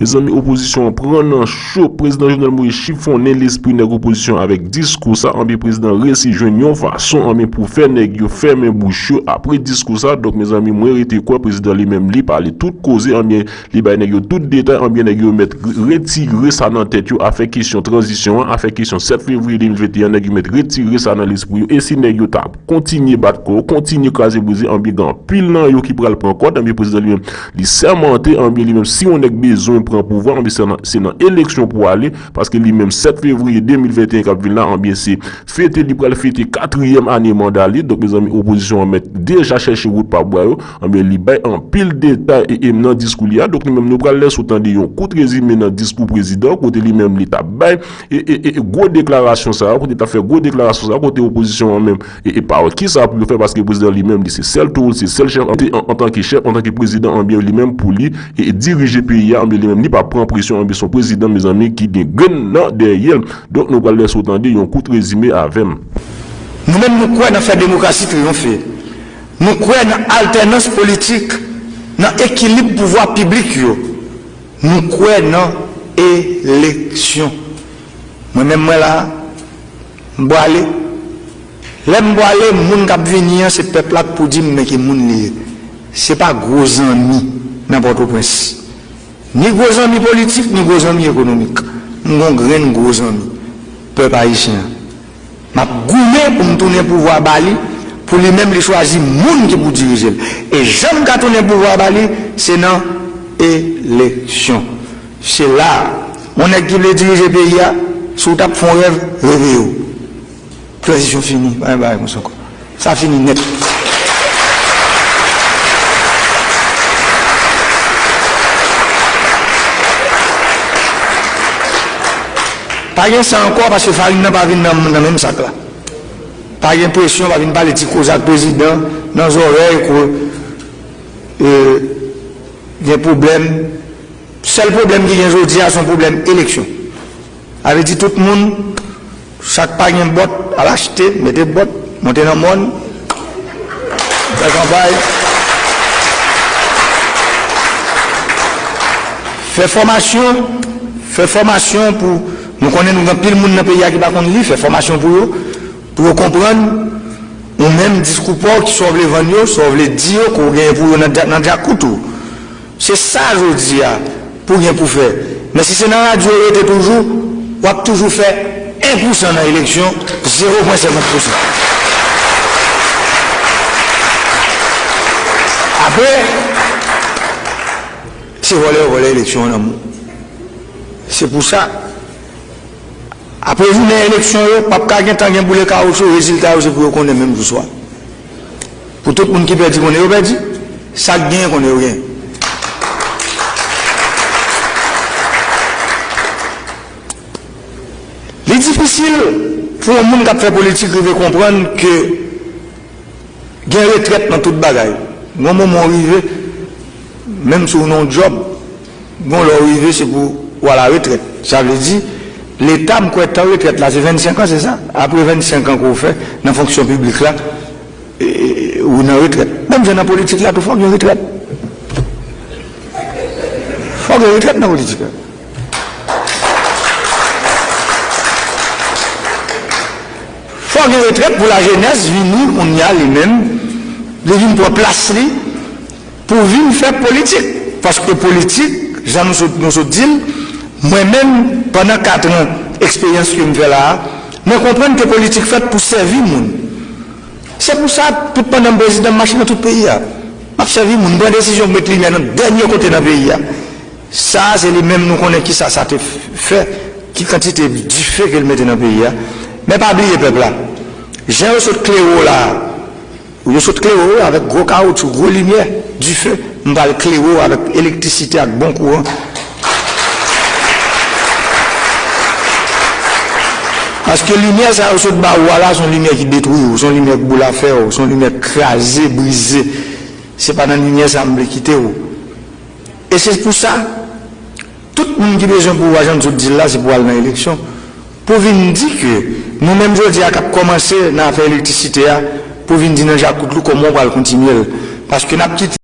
Mezanmi opozisyon an pran nan cho, prezidan Jovenel Moïse chifonnen lespri nèg opozisyon avèk diskou sa anpi prezidan resi jwenn yon fason anben pou fè nèg yo fèmen bouch yo apre diskou sa donk mezanmi mwen rete kwè prezidan li menm li pale tout koze anben Li bay nèg yo tout detay anbyen nèg yo mèt retire sa nan tèt yo afè kesyon tranzisyon an, afè kesyon 7 fevriye 2021 an nèg yo mèt retire sa nan lespri yo e si nèg yo ta kontinye bat kò, kontinye kraze brize anbyen gen anpil nan yo ki pral pran kòd anbyen prezidan li menm li sèmante anbyen li menm si yon nèg bezwen pran pouvwa anbyen se nan se nan eleksyon pou ale paske li menm 7 fevriye 2021 kap vin la anbyen se fete li pral fete katriyèm ane manda li donk mezanmi opozisyon an mèt deja chèche wout pa bwa yo. Anben li bay anpil detay e em nan diskou li a donk nou menm nou pral lèse w tande yon kout rezime nan diskou prezidan kote li menm li t ap bay e e e gwo deklarasyon sa a kote li t ap fè gwo deklarasyon sa a kote opozisyon an menm e e pa wè kisa pou yo fè paske prezidan li menm li se sèl toro l se sèl chèf an e antanke chèf antanke prezidan anben li menm pou li e e dirije peyi a anben li menm li pa pran presyon anben s on prezidan mezanmi ki gen grenn nan dèyè l donk nou pral lèse w tande yon kout rezime avè m. Nou menm nou kwè nan fè demokrasi triyonfe. Nou kwè nan altènans politik, nan ekilib pouvwa piblik yo. Nou kwè nan eleksyon. Mwen menm mwen la a, m pwale. Lè m pwale, moun k ap vini an se pèp la k pou di m men ki moun li ye. Se pa gwo zanmi nan Pòtoprens. Ni gwo zanmi politik, ni gwo zanmi ekonomik. M gen yon grenn gwo zanmi, pèp ayisyen an. Map goumen pou m tounen pouvwa ba li pou li menm li chwazi moun ki pou dirije l e jan m ka tounen pouvwa ba li se nan eleksyon se la a yon nèg ki vle dirije peyi a si w tap fon rèv reve w tranzisyon fini pa gen bagay konsa ankò. Sa fini nèt. Pa gen sa ankò paske farin nan pa vin nan menm sak la. Pa gen presyon pa vin pale ti koze ak prezidan nan zòrèy ke gen pwoblèm. Sèl pwoblèm ki gen jodi a son pwoblèm eleksyon. Sa vle di tout moun. Sa k pa gen bòt, al achte, mete bòt, monte nan mòn, fè kanpay, fè fòmasyon, fè fòmasyon pou, nou konnen nou gen anpil moun nan peyi a ki pa konn li, fè fòmasyon pou yo, pou yo konprann ou menm diskou pa w ki sa w vle vann yo, sa w vle di yo ke w genyen pou yo nan djakout ou. Se sa jodi a pou gen pou fè. Men si se nan radyo ou rete toujou, w ap toujou fè 1 pousan nan eleksyon, zewo pwen senkant pousan. Apre, se vòlè yo vòlè eleksyon an nan men w. Se pou sa, apre jounen eleksyon yo, p ap ka gen tan gen boule kawouchou, rezilta yo se pou yo konnen menm jou swa. Pou tout moun ki pèdi konnen yo pèdi, sa k genyen konnen yo genyen. Li difisil pou yon moun k ap fè politik rive konprann ke gen retrèt nan tout bagay. Yon moman ou rive, menm si w nan yon djòb, Gon lè w rive se pou w a la retrèt. Sa vle di, Leta m kwè tan retrèt la se 25 an se sa? Apre 25 an ke w fè nan fonksyon piblik la ou nan retrèt. Menm jan nan politik la tou fòk gen retrèt. Fòk gen retrèt nan politik la. Fòk gen retrèt pou lajenès vini kounya li menm li vin pran plas li pou vin fè politik paske politik jan nou sot nou sot dil mwen menm pandan 4 ans eksperyans kem fè la a mwen konprann ke politik fèt pou sèvi moun se pou sa tout pandanm prezidan mache nan tout peyi a map sèvi moun pran desizyon pou met limyè nan dènye kote nan peyi a sa a se li menm nou konnen kisa sa te fè ki kantite dife kel mete nan peyi a men pa bliye pèp la jan yo sot klere w la a. Ou yo sot klere w avèk gwo kawoutchou, gwo limyè, dife, m pral klere w avèk elektrisite ak bon kouran. Paske limyè sa yo sot ba ou a la s on limyè ki detwi w, s on limyè k boulafè w, s on limyè k kraze, brize. Se pa nan limyè sa m vle kite w. E se pou sa. Tout moun ki bezwen pouvwa jan M'sot dil la se pou al nan eleksyon pou vin di ke nou menm jodi a kap kòmanse nan afè elektisite a pou vin di nan djakout lou kòman ou pral kontinye l paske nap kite.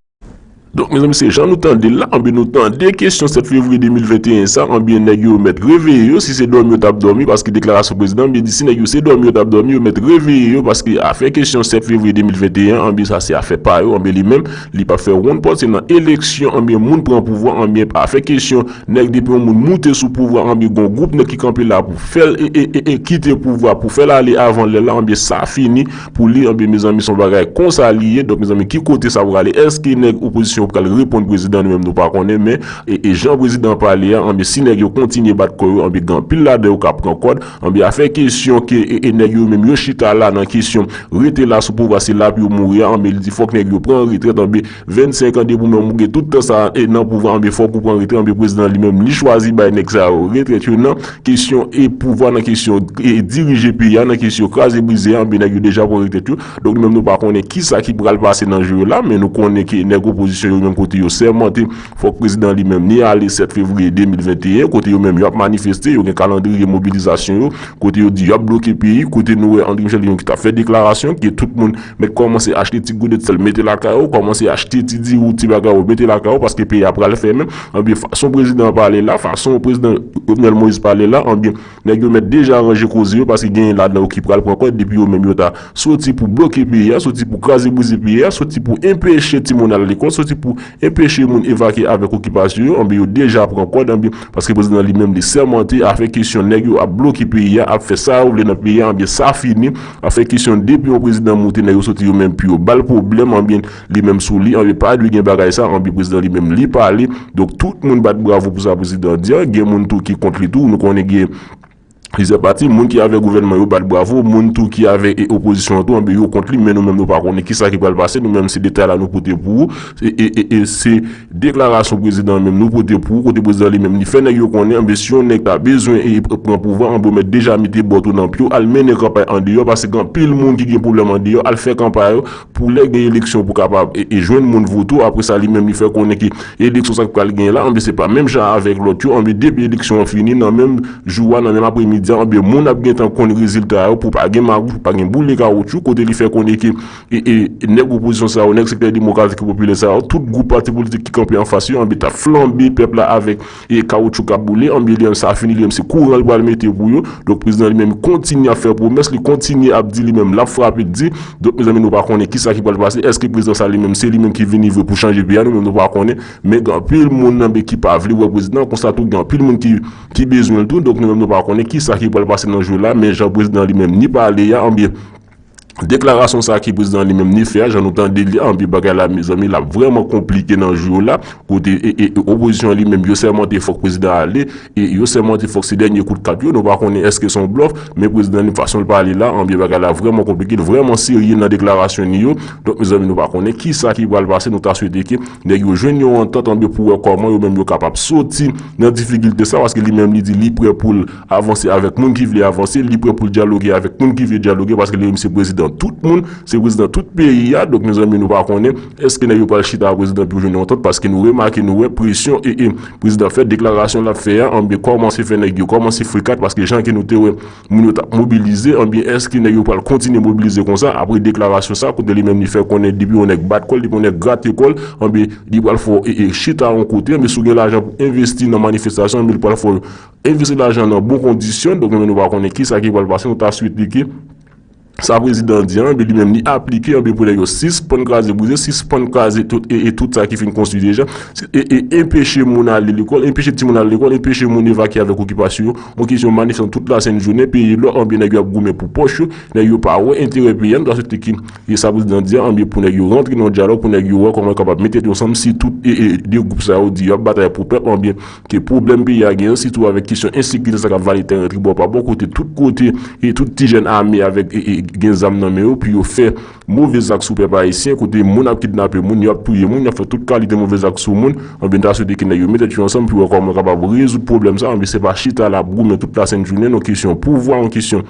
Donk mezanmi se jan nou tande l la anben nou tande kesyon 7 fevriye 2021 sa anben nèg yo mèt reveye yo si se dòmi yo tap dòmi paske deklarasyon prezidan anben di si nèg yo se dòmi yo tap dòmi yo mèt reveye yo paske afè kesyon 7 fevriye 2021 anben sa se afè pa yo anben li menm Li pap fè ronn pòt se nan eleksyon anbyen moun pran pouvwa anbyen pa fè kesyon nèg depi yon moun moute sou pouvwa anbyen gon gwoup nèg ki kanpe la pou fèl ee kite pouvwa pou fèl ale avan lè la anbyen sa fini pou li anbyen mezanmi son bagay konsa li ye donk mezanmi ki kote sa prale èske nèg opozisyon pral reponn prezidan nou menm nou pa konnen men ee jan prezidan pale a anbyen si nèg yo kontinye bat kò yo anbyen gen anpil ladan yo ka pran kòd Anben afè kesyon ke nèg yo menm yo chita la nan kesyon rete la sou pouvwa se la pou yo mouri a anben li di fòk nèg yo pran retrèt anben 25 an depi ou menm ou gen tout tan sa nan pouvwa anben fòk ou pran retrèt anben prezidan li menm li chwazi bay nèg sa yo retrèt yo nan kesyon pouvwa nan kesyon dirije peyi a nan kesyon kraze brize a anben nèg yo deja pran retrèt yo donk nou menm nou pa konnen kisa ki pral pase nan jou yo la men nou konnen ke nèg opozisyon yo menm kote yo sèmante Fòk prezidan li menm ni ale 7 fevriye 2021 kote yo menm yo ap manifeste, yo gen kalandriye mobilizasyon yo, kote yo di yo ap bloke peyi, kote nou wè Andry Michel te gen yon ki t ap fè deklarasyon, ke tout moun mèt kòmanse achte ti godet sèl mete lakay ou, kòmanse achte ti diri ou, ti bagay ou mete lakay ou paske peyi a pral fèmen, anbyen fason prezidan an pale la, fason prezidan Jovenel Moïse pale la, anbyen. Nèg yo mèt deja ranje koze yo paske genyen ladan yo ki pral pran kòd depi yo menm yo ta soti pou bloke peyi a, soti pou kraze brize peyi a, soti pou enpeche timoun al lekòl, soti pou enpeche moun evakye avèk okipasyon yo, anben yo deja pran kòd anben paske prezidan li menm li sèmante afè kesyon nèg yo ap bloke peyi a, ap fè sa yo vle nan peyi a anben sa fini, afè kesyon depi yon prezidan moute nèg yo soti yo menm pou yo bal pwoblèm anben. Li menm sou li an epad li gen bagay sa anpi prezidan li menm li pale donk tout moun bat bravo pou sa prezidan di an gen moun tou ki kont li tou nou konnen gen plizyè pati moun ki avè gouvènman yo bat bravo moun tou ki avè opozisyon an tou anpi yo kont li men nou menm nou pa konnen kisa ki pral pase nou menm se detay la nou pote pou ou e se deklarasyon prezidan an menm nou pote pou ou kote prezidan li menm li fè nèg yo konnen anpi si yon nèg ta bezwen pran pouvwa anpi ou mèt deja mete bòt ou nan pye w al mennen kanpay andeyò paske gen anpil moun ki gen pwoblèm andeyò al fè kanpay Pou lè gen eleksyon pou kapab jwenn moun vote ou, apre sa li menm li fè konnen ke eleksyon sa ki pral genyen la, anben se pa menm jan avèk lòt yo, anben depi eleksyon an fini nan menm jou a, nan menm apremidi a, anben moun ap gentan konn rezilta yo pou pa gen magouy, pou pa gen boule kawotchou, kote li fè konnen ke nèg opozisyon sa yo, nèg sektè demokratik e popilè sa yo, tout gwoup pati politik ki kanpe anfas yo, anben tap flanbe pèp la avèk. E kawoutchou k ap boule anbyen li menm sa fini li menm se kouran l pral mete pou yo. Donk prezidan li menm kontinye ap fè pwomès li kontinye ap di li menm l ap frape l di. Donk mezanmi nou pa konnen kisa ki pral pase èske prezidan sa li menm se li menm ki vini vre pou chanje peyi a nou menm nou pa konnen. Men gen anpil moun nan be ki pa vle wè prezidan konsa tou gen anpil moun ki ki bezwen l tou donk nou menm nou pa konnen kisa ki pral pase nan jou la men jan prezidan li menm ni pale a anbyen Deklarasyon sa ki prezidan li menm li fè a jan nou tande li a anpi bagay la mezanmi lap vrèman konplike nan jou yo la kote opozisyon li menm yo sèmante fòk prezidan ale e yo sèmante fòk se dènye kout kat yo nou pa konnen eske son blòf men prezidan li fason l pale la anpi bagay la vrèman konplike l vrèman serye nan deklarasyon li yo donk mezanmi nou pa konnen kisa ki pral pase nou ta swete ke nèg yo jwenn yon antant anpi pou wè kòman yo menm yo kapab soti nan difikilte sa paske li menm li di li prè pou l Avanse avèk moun ki vle avanse, li prè poul dyaloge avèk moun ki vle dyaloge paske li menm se prezidan tout moun, se prezidan tout peyi a, donk mezanmi nou pa konnen eske nèg yo pral chita a prezidan pou jwenn yon antant paske nou remake nou wè presyon ee prezidan fè deklarasyon lap fè a anbyen kòmanse fè nèg yo kòmanse frekat paske jan ke nou te wè moun yo tap mobilize anbyen eske nèg yo pral kontinye mobilize konsa apre deklarasyon sa kote li menm li fè konnen depi yon nèg bat kòl depi yon nèg grate kòl anbyen li pral fè w ee chita yon kote anbyen si w gen lajan pou envesti nan manifestasyon anbyen li pral fè w Envesti lajan nan bon kondisyon, donk menm nou pa konnen kisa ki pral pase nou ta swete li ke sa prezidan an di an anben li menm li aplike anben pou nèg yo sispann kraze brize, sispann kraze tout e e tout sa ki fin konstwi deja e e enpeche moun ale lekòl, enpeche timoun ale lekòl, enpeche moun evakye avèk okipasyon yo, on kesyon manifestan tout la sent jounen peye lò anben nèg yo ap goumen pou pòch yo, nèg yo pa wè enterè peyi a nou ta swete ke e sa prezidan an di an anben pou nèg yo rantre nan yon dyalòg pou nèg yo wè kòman yo kapab mete tèt yo ansanm si tout e e 2 gwoup sa yo di yo ap batay pou pèp anben Ke pwoblèm peyi a genyen sitou avèk kesyon ensekirite sa kap vale tèren tribwa pa bon kote tout kote e tout ti jèn ame avèk gen zam nan men yo pou yo fè move zak sou pèp ayisyen kote moun ap kidnape moun yo ap touye moun yap fè tout kalite move zak sou moun anben m ta swete ke nèg yo met tèt yo ansanm pou wè kòman yo kapab rezoud pwoblèm sa anben se pa chita la ap goumen tout lasent jounen nan kesyon pouvwa nan kesyon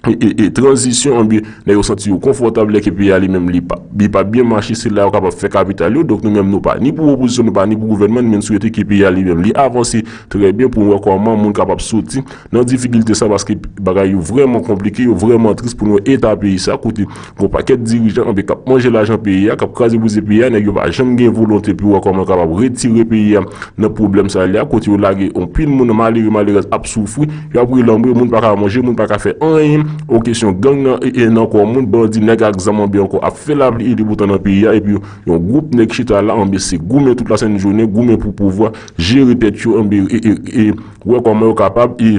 e tranzisyon anbyen lè yo santi yo konfòtab lè ke peyi a li menm li pa li pa byen mache se la yo kapab fè kapital yo donk nou menm nou pa ni pou opozisyon nou pa ni pou gouvènman nou menm swete ke peyi a li menm li avanse trè byen pou nou wè kòman moun kapab soti nan difikilte sa paske bagay yo vrèman konplike yo vrèman tris pou nou wè eta peyi sa kote Gon pakèt dirijan anpe kap manje lajan peyi a kap kraze brize peyi a nèg yo pa janm gen volonte pou wè kòman yo kapab retire peyi a nan pwoblèm sa li a kote yo lage anpil moun malere malerèz ap soufri yo ap relanbre moun paka manje moun paka fè anyen o kesyon gang nan nan kò moun bandi nèg ak zam anbe ankò ap fè lapli e deboutan nan peyi a epi yon gwoup nèg chita la anbe se goumen tout lasent jounen goumen pou pouvwa jere tèt yo anbe e wè kòman yo kapab e.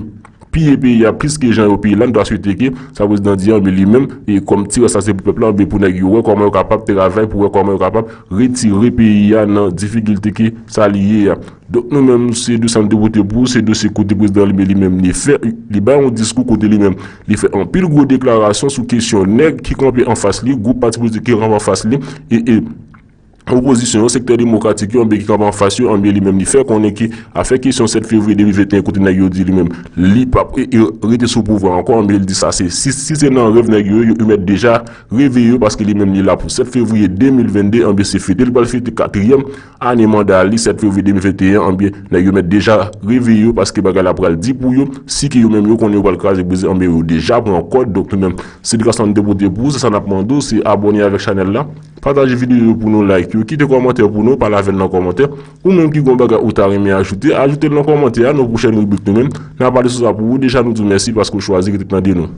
Piye peyi a plis ke jan yo piye la nou ta swete ke sa prezidan di an enben li menm e kòm ti rès la se pou pèp la enben pou nèg yo wè kòman yo kapab travay pou wè kòman yo kapab retire peyi a nan difikilte ke sa li ye a donk nou menm se dosye a nou te pote pou se dosye kote prezidan li menm li menm li fè li bay yon diskou kote li menm li fè anpil gwo deklarasyon sou kesyon nèg ki kanpe anfas li gwoup pati politik ki kanpe anfas li e e. Opozisyon yo, sektè demokratik yo anben ki kanpe anfas yo anben li menm li fè konnen ke afè kesyon 7 fevriye 2021 kote nèg yo di li menm li pap rete sou pouvwa ankò anben li di sa se si si se nan rèv nèg yo ye yo mèt deja reveye yo paske li menm li la pou 7 fevriye 2022 anben se fete li pral fete katriyèm ane manda li 7 fevriye 2021 anben nèg yo mèt deja reveye yo paske bagay la pral di pou yo si ke yo menm yo konnen yo pral kraze brize anben yo deja pran kòd donk nou menm se edikasyon nou te pote pou ou se sa nap mande ou se abòne avèk chanèl la. Pataje video yo pou nou like yo kite kòmantè pou nou pale avèn nan kòmantè ou menm ki gon bagay ou ta renmen ajoute ajoutel nan kòmantè a nou pwochèn ribrik nou menm na pale sou sa pou ou deja nou diw mèsi paske ou chwazi rete tande nou.